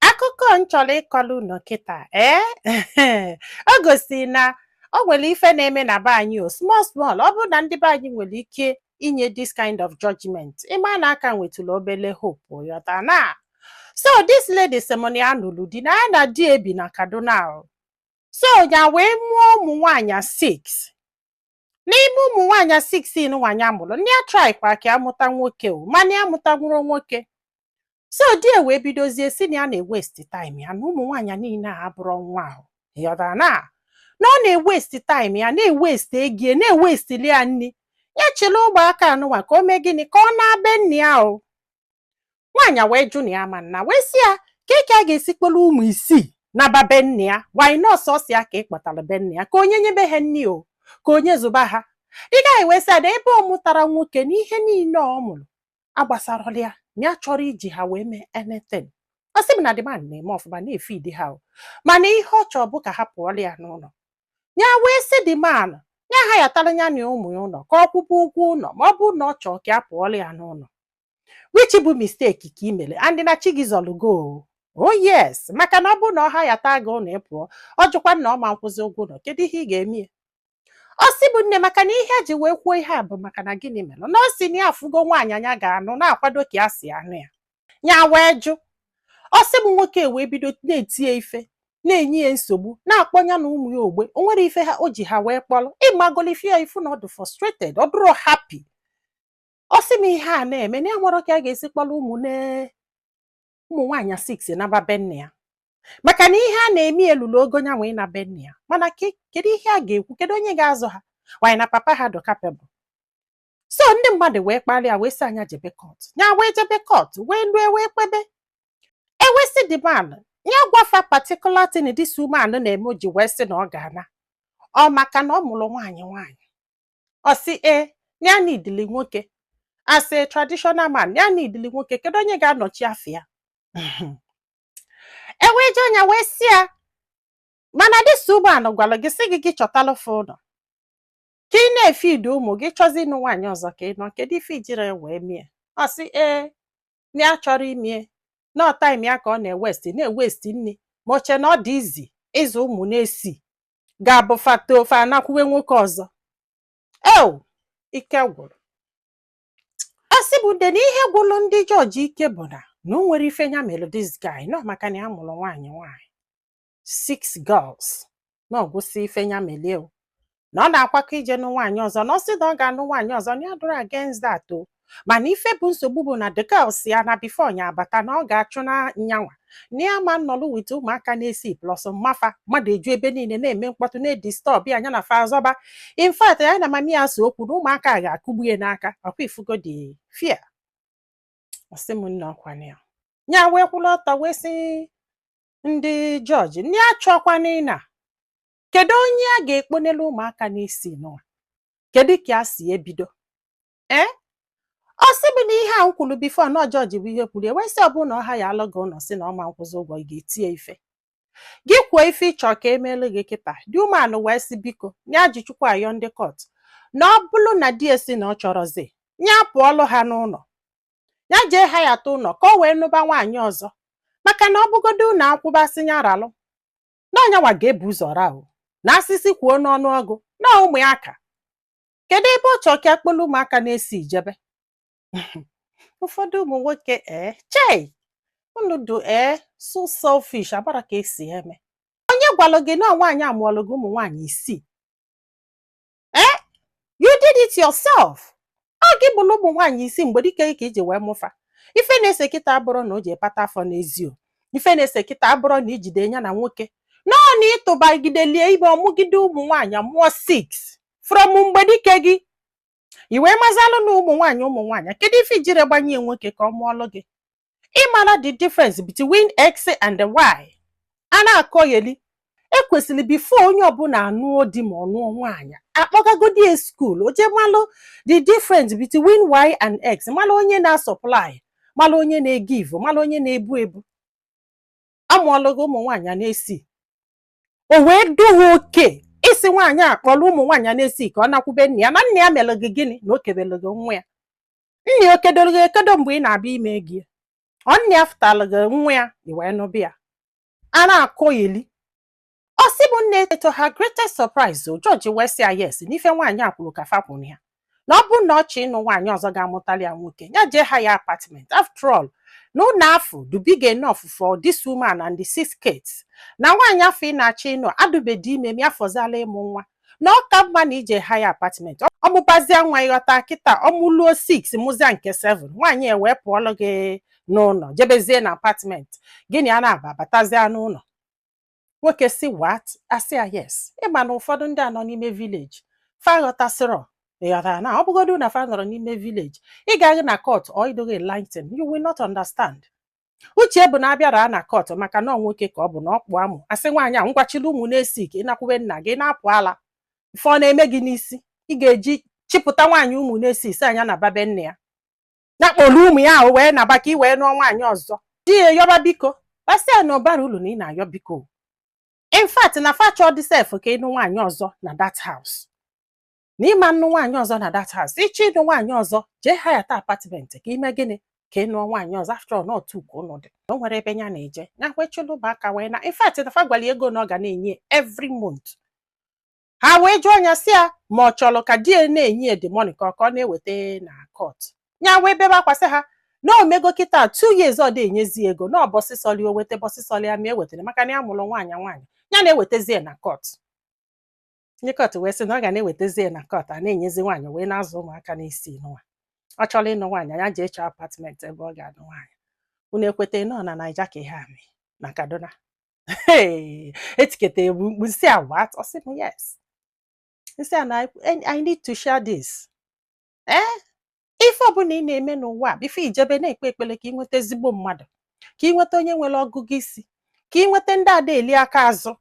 akụkọ m chọrọ ịkọrọ unu kịta ee o gosiri na o nwere ife na-eme na be anyị o small small ọ bụrụ na ndị be anyị nwere ike inye this kind of judgment ị ma na a ka nwetụrụ obele hope ị ghọta na so this lady sị m na ya nụlụ di na ya na di ya bi na kaduna o. so ya wee mụọ ụmụ nwaanyị six n'ime ụmụ nwaanyị six nwaanyị a mụrụ na ya traịkwara ka ya mụta nwoke o mana ya amụtanwurọ nwoke so di ya wee bidozie sị na ya na-ewesti time ya na ụmụ nwaanyị niile a abụrọ nwa o ị ghọtara na na ọ na-ewesti time ya na-ewesti ego ya na-ewestili ya nri ya chịrị ụmụaka nụnwa ka o mee gịnị ka ọ naa be nne ya o nwaanyị a wee jụ na ya ma nna wee sị ya kee ka ya ga-esi kpọrọ ụmụ isii naba be nne ya wanyị nọọsụ ọ sị ya ka ị kpọtara be nne ya ka onye nyebe ha nri o ka onye zụba ha the guy wee sị ya na ebe ọ mụtarọ nwoke na ihe niile ọ mụrụ agbasarọla ya na ya achọrọ iji ha wee mee anything ọ sị m na the man na-eme ọfụma na-efidi ha o mana ihe ọ chọrọ bụ ka ha pụọla ya n'ụlọ ya wee sị the man ya hayatara ya na ụmụ ya ụlọ ka ọ kwụba ụgwọ ụlọ ma ọ bụrụ na ọ chọrọ ka ya pụọla ya n'ụlọ which bụ mistake ka i mere and na chi gị zọrọ gị o oh yes maka na ọ bụrụ na ọ hayata gị ụlọ ị pụọ ọ jụkwa na ọ ma nkwụzi ụgwọ ụlọ kedu ihe ị ga-eme ya ọ sị mụ nne maka na ihe ya ji wee kwuo ihe a bụ maka na gịnị mere na ọ sị na ya afụgo nwaanyị nya ga-anụ na-akwado ka ya si anụ ya ya wee jụ ọ sị mụ nwoke wee bido na-eti ya ife na-enye ya nsogbu na-akpọ ya na ụmụ ya ogbe o nwerọ ife ha o ji ha wee kpọrọ ị magolu ife a ị fụ na ọ dị frustrated ọ dụrọ happy ọ sị m ihe a na-eme na o nwerọ ka ya ga-esi kpọrọ ụmụ ụmụ nwaanyị six naba be nne ya maka na ihe a na-eme elurọ ogo nyanwa ịna be nne ya mana kedu ihe a ga-ekwu kedu onye ga-azụ ha nwaanyị na papa ha dị capable so ndị mmadụ wee kpalie ya wee sị ya nya jebe court ya wee jebe court wee lue wee kpebe e wee sị the man ya gwa fa particular thing this woman na-eme o ji wee sị na ọ ga-ana ọ maka na ọ mụrụ nwaanyị nwaanyị ọ sị ee na ya needili nwoke as a traditional man ya needili nwoke kedu onye ga-anọchi afa ya e wee jụọ nya wee sị ya mana this woman gwara gị sị gị gị chọtalụ fa ụlọ ka ị na-efidi ụmụ gị chọọzị ịnụ nwaanyị ọzọ ka ị nụọ kedu ife i jirọ wee mie ọ sị ee na ya achọrọ imie na ọ time ya ka ọ na-ewesti na-ewesti nri ma o che na ọ dị easy ịzụ ụmụ isii ga-abụ fa tofee anakwuwe nwoke ọzọ eo ike gwụrụ ọ sị mụ na ihe gwụrụ ndị judge ike bụ na na o nwerọ ife ya mere this guy na ọ maka na ya mụrụ nwaanyị nwaanyị six girls na ọ gwụsị ife ya melụ ya o na ọ na-akwakọ ije nụ nwaanyị ọzọ na ọ sị na ọ ga-anụ nwaanyị ọzọ na ya adụrọ against that o mana ife bụ nsogbu bụ na the girl sị ya na before nya abata na ọ ga-achụ na nyanwa na ya ama nọlụ with ụmụaka n'isii plus mama fa mmadụ eju ebe niile na-eme mkpọtụ na-edisturb ya anya na fa azọba in fact ya na mami ya so okwu na ụmụaka a ga-akụgbu ya n'aka ọkwa ị fụgo the fear ọ sị m nne ọkwa na ya nya wee kwụrụ ọtọ wee sị ndị jọji nya achọkwana ịma kedu onye a ga-ekponelu ụmụaka n'isii nụwa kedu ka a si ebido ee ọ sị mụ na ihe a m kwuru before na jọji bụ ihe kwuru wee sị ọ bụ na ọ hirelụ gị ụlọ sị na ọ ma akwụzi ụgwọ ị ga-etinye ife gị kwuo ife ị chọ ka e meelu gị kịta the woman wee sị biko nya ji Chukwu ayọ ndị court na ọ bụrụ na di ya sị na ọ chọrọzi ya pụọlụ ha n'ụlọ ya jee hireta ụlọ ka o wee nụba nwaanyị ọzọ maka na ọ bụgodo ụlọ akwụbasị ya ralụ na ọ nyanwa ga-ebu ụzọ ra o na asịsị kwuo n'ọnụ ọgụ na ụmụ ya ka kedu ebe ọ chọọ ka a kpọlụ ụmụaka n'isii jebe ụfọdụ ụmụ nwoke ee chei unu dụ ee so selfish abụrọ ka e si eme onye gwalụ gị na nwaanyị amụọlụ gị ụmụ nwaanyị isii ee you did it yourself ọ gị mụlụ ụmụ nwaanyị isii mgbe dike ka i ji wee mụ fa ife na-ese kịta abụrọ na o jee kpata afọ n'ezi o ife na-ese kịta abụrọ na i jide ya na nwoke no ọ na ị tụbagideli ya ime ọ mụgide ụmụ nwaanyị mụọ 6 from mgbe dike gị i wee mazalụ na ụmụ nwaanyị ụmụ nwaanyị kedu ife i jirọ gbanye nwoke ka ọ mụọlụ gị ị mara the difference between x and y a na-akọgheli e kwesịrị before onye ọbụla anụọ di ma ọ nụọ nwaanyị a kpọgagodi ya school o je malụ the difference between y and x malụ onye na-asupply malụ onye na-egive malụ onye na-ebu ebu amụọlụ gị ụmụ nwaanyị n'isii o wee dụ gị okay ị sị nwaanyị a kpọrọ ụmụ nwaanyị a n'isii ka ọ nakwube nne ya na nne ya mere gị gịnị na o kebere gị nwa ya nne ya o kedoro gị ekedo mgbe ị na-abịa ime ego ya ọ nne ya fụtara gị nwa ya i wee nụba ya a na-akọyeli ọ sị mụ nne to her greatest surprise o jọji wee sị ya yes na ife nwaanyị a kwuru ka fa kwụ na ya na ọ bụrụ na ọ chọọ ịnụ nwaanyị ọzọ ga-amụtali ya nwoke ya jee hire apartment after all na ụlọ afụ dụ big enough for this woman and the six kids na nwaanyị afụ ị na-achọ ịnụ adụbedi ime ma ya fọziala ịmụ nwa na ọ ka mma na i je hire apartment ọ mụbazia nwa ị ghọta kịta ọ mụluo 6 mụzia nke 7 nwaanyị e wee pụọlụ gị n'ụlọ jebezie na apartment gị na ya na-aba batazie n'ụlọ nwoke sị what a sị ya yes ị ma na ụfọdụ ndị a nọ n'ime village fa ghọtasịrọ ị ghọtara na ọ bụgodu na fa nọrọ n'ime village ị gaghị na court or ị dịghị enlighten you will not understand uche bụ na a bịara na court maka na ọ nwoke ka ọ bụ na ọ kpụ amụ a sị nwaanyị a ngwa chịlị ụmụ n'isii ka ị nakwube nna gị na-apụ ala ife ọ na-eme gị n'isi ị ga-eji chịpụta nwaanyị ụmụ n'isii sị a nya naba be nne ya ya kpọrọ ụmụ ya ahụ wee naba ka ị wee nụọ nwaanyị ọzọ di ya yọba biko a sị ya na ọ barọ ulu na ị na-ayọ biko in fact na fa achọdị sef ka ị nụ nwaanyị ọzọ na that house na ị ma nnụ nwaanyị ọzọ na that house ị chọọ ịnụ nwaanyị ọzọ jee hayata apartment ka i mee gịnị ka ị nụọ nwaanyị ọzọ after all not two ka ụnụ dị na o nwere ebe ya na-eje ya kwechilụba aka wee na in fact na fa gwara ya ego na ọ ga na-enye every month ha wee jụọ ya sị ya ma ọ chọrọ ka di ya na-enye ya the money ka ọ ka ọ na-eweta na court ya wee bebe akwa sị ha na o mego kịta two years ọ dị enyezi ego na ụbọsị sọlụ ya o weta ụbọsị sọlụ ya ma ewetara maka na ya mụrụ nwaanyị nwaanyị ya na-ewetezi ya na court ndị court wee sị na ọ ga na-ewetezi ya na court a na-enyezi nwaanyị wee na-azụ ụmụaka n'isii nwa ọ chọrọ ịnụ nwaanyị ya jee chọọ apartment ebe ọ ga-anụ nwaanyị unu ekweta na ọ na naija ka ihe a mee na kaduna Hey, etiketa egbu mkpu nsị a what? Ọ sị m yes. Nsị a na I need to share this. Eh? Ife ọbụla ị na-eme n'ụwa before i jebe na-ekpe ekpele ka ị nweta ezigbo mmadụ, ka ị nweta onye nwere ọgụgụ isi, ka ị nweta ndị ada-eli aka azụ.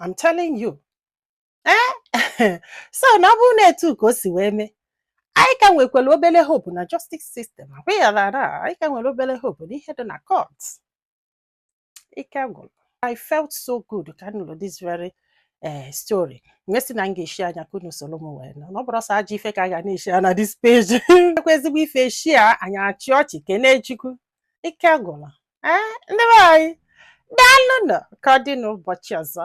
I'm telling you. Eh? so na ọ bụrụ na etu ka o si wee mee anyị ka nwekwara obere hope na justice system agwaghara anyị ka nwere obere hope n'ihe dị na court ike gwụrụ I felt so good ka m nụlụ this very eh, story m wee sị na m ga-eshare nya ka unu soro m wee nụ na ọ bụrọ sọ ajọ ife ka a ga na-eshare na this page ekwe ezigbo ife e share anyị achịa ọchị kenee chukwu ike gwụrụ ee eh, ndị be anyị daalụ nụ ka ọ dị n'ụbọchị ọzọ